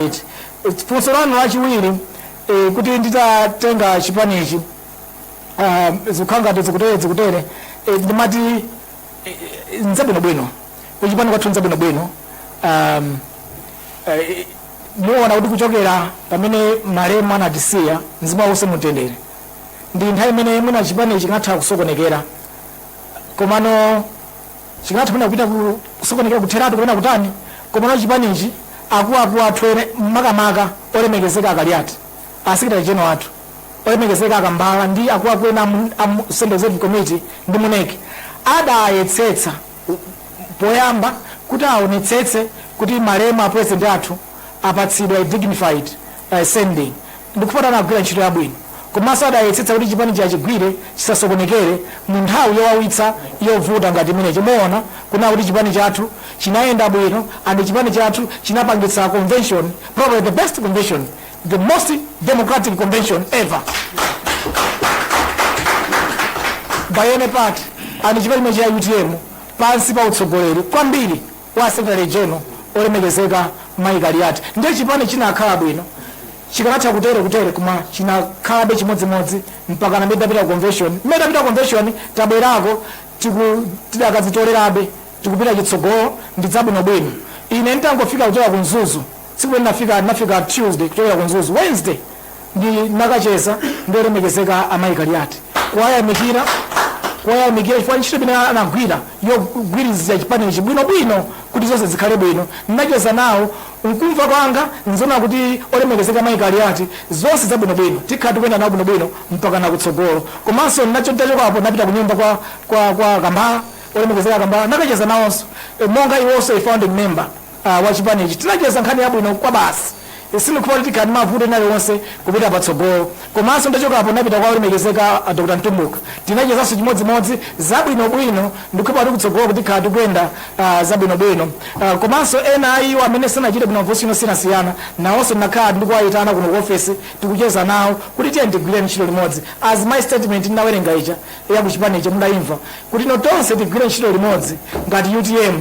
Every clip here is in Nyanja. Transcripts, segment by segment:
Right. It's- funso lanu lachiwiri eh, kuti nditatenga chipanichi ah, zikukhala ngati zikutere zikutere eh, ndimati eh, eh, nzabwinobwino kuchipani kwathu nzabwinobwino um, eh, muona kuti kuchokera pamene malemu anatisiya mzimu wake uuse mumtendere ndi nthawi imene mwina chipani chingatha kusokonekera komano Chikanatha mwina kupita ku kusokonekera kutheratu kapena kutani komano chipanichi akuakuu athu ene makamaka olemekezeka a Kaliati, a secretary general athu olemekezeka a Kambala ndi akuakuu ena amu amu central executive committee ndi mu nec adayesetsa poyamba kuti aonetsetse kuti malemu a president athu apatsidwa a dignified sending. Ndikufuna kuti anagwira ntchito yabwino komanso adayesetsa kuti chipanichi achigwire chisasokonekere mu nthawi yowawitsa yovuta ngati imeneyi. Muona kunena kuti chipani chathu chinayenda bwino and chipani chathu chinapangitsa convention, probably the best convention, the most democratic convention ever by any party and chipani chimenechi cha utm pansi pa utsogoleri kwambiri. wa secretary general olemekezeka mayi kaliati ndiye chipani chinakhala bwino chikanatha kutere kutere koma chinakhalabe chimodzimodzi mpakana tidapita ku convention tidapita convention tabwerako tiku- tidakazitolerabe tikupita chitsogolo ndi zabwinobwino ine nditangofika kuchoka ku mzuzu Tsiku linafika ndinafika Tuesday kuchokera ku Mzuzu. Wednesday ndinakacheza ndi olemekezeka a Mai Kaliati kuwayamikira kuwayamikira chifukwa ntchito imene anagwira yogwirizira chipani ichi bwino bwino kuti zonse zikhale bwino. Ndinacheza nawo mkumva kwanga ndi zoona kuti olemekezeka Mai Kaliati zonse zabwino bwino tikhala tikuyenda nawo bwino bwino mpakana kutsogolo. Komanso ndinacho nditachokapo ndinapita kunyumba kwa kwa kwa Kambala olemekezeka Kambala nakacheza nawonso monga iwonso a founding member. a wa chipanichi tinacheza nkhani yabwino kwabasi. Sindikukhulupirira kuti tikhala ndi mavuto ena aliwonse kupita patsogolo. Komanso nditachokapo ndinapita kwa olemekezeka a Dr. Mtumbuka. Tinachezanso chimodzimodzi zabwinobwino. Ndikukhulupirira kuti kutsogoloku tikhala tikuyenda zabwinobwino. Komanso ena a iwo amene sanachite bwino ma position osiyanasiyana nawonso ndinakhala ndikuwayitana kuno ku ofesi tikucheza nawo kuti tiyeni tigwire ntchito limodzi. As my statement ndinawerenga ija ya ku chipani ija mudayimva kuti no tonse tigwire ntchito limodzi ngati utm.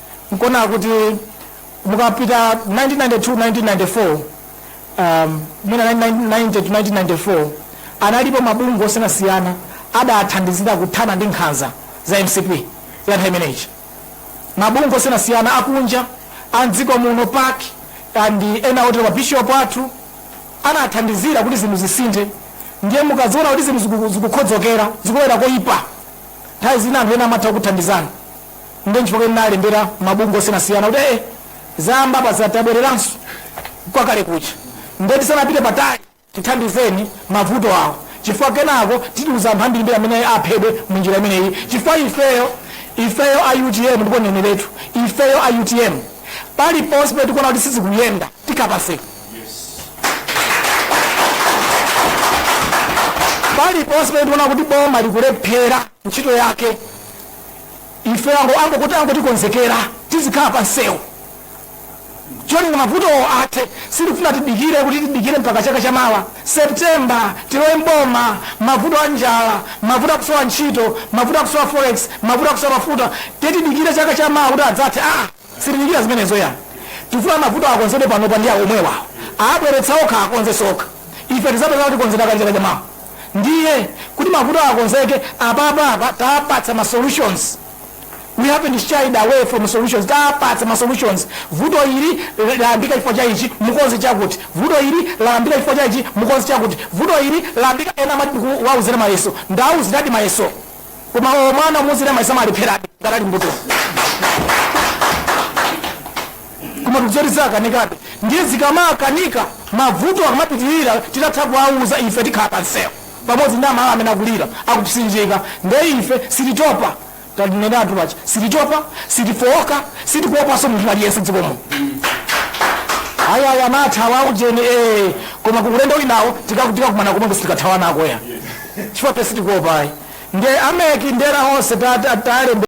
N'kuona kuti mukapita 1992, 1994, um, mwina 1990 to 1994, analipo mabungwe osiyanasiyana adathandizira kuthana ndi nkhanza za mcp ya nthawi imeneyi mabungwe osiyanasiyana akunja a mdziko muno pac ndi ena otero mabishopu athu anathandizira kuti zinthu zisinthe ndiye mukaziona kuti zinthu ziku- zikukhodzokera zikulowera koyipa nthawi zina anthu ena amatha kuthandizana Ndiye nchifukwa ndinalembera mabungwe osiyanasiyana kuti ee zayamba apa za- tabwereranso kwa kale kuja ndiye tisanapite patali tithandizeni mavuto awo chifukwa kenako titiuza anthu ambirimbiri amene aphedwe mu njira imeneyi chifukwa ifeyo ifeyo a utm ndipo ndineneretu ifeyo a utm paliponse pamene tikuona kuti sizikuyenda tikapezeka paliponse pamene tikuona kuti boma likulephera ntchito yake ife ango ango tikonzekera tizikhala pa msewu cholinga mavutowa athe sitifuna tidikire kuti tidikire mpaka chaka cha mawa septemba tilowe mboma mavuto a njala mavuto akusowa ntchito mavuto akusowa forex mavuto akusowa mafuta titidikire chaka cha mawa kuti adzathe ah Sitidikira zimenezo yayi. Tifuna mavuto akonzedwe panopa ndi omwewa. Abweretsa okha akonzenso okha. Ife tizapeza atakonzedwa kale chaka chamawa. Ndiye kuti mavuto akonzeke apapa apa tapatsa ma solutions. We haven't shied away from solutions. Tapatsa ma solutions. Vuto ili layambika chifukwa cha ichi, mukonze chakuti. Vuto ili layambika chifukwa cha ichi, mukonze chakuti. Vuto ili layambika ena amati ndikuwauzira mayeso. Ndawauziradi mayeso. koma mwana kumuuzira mayeso amalepherabe ngati ali mbuli koma tikuona kuti zakanikabe ndiye zikamakanika mavuto akamapitirira titatha kuwauza ife tikhala pansewu pamodzi ndi amalawi amene akulira akupsinjika ndiye ife sititopa tandineneretu apa sititopa sitifowoka sitikuopanso munthu aliyense dzikomo ayaya mathawa ujeni ee koma ku ulendo winawo tikakumana komweko sitikathawanako ayi chifukwa ife sitikuopa ayi. Ndiye a mec ndi ena onse ta, ta, tawalembera.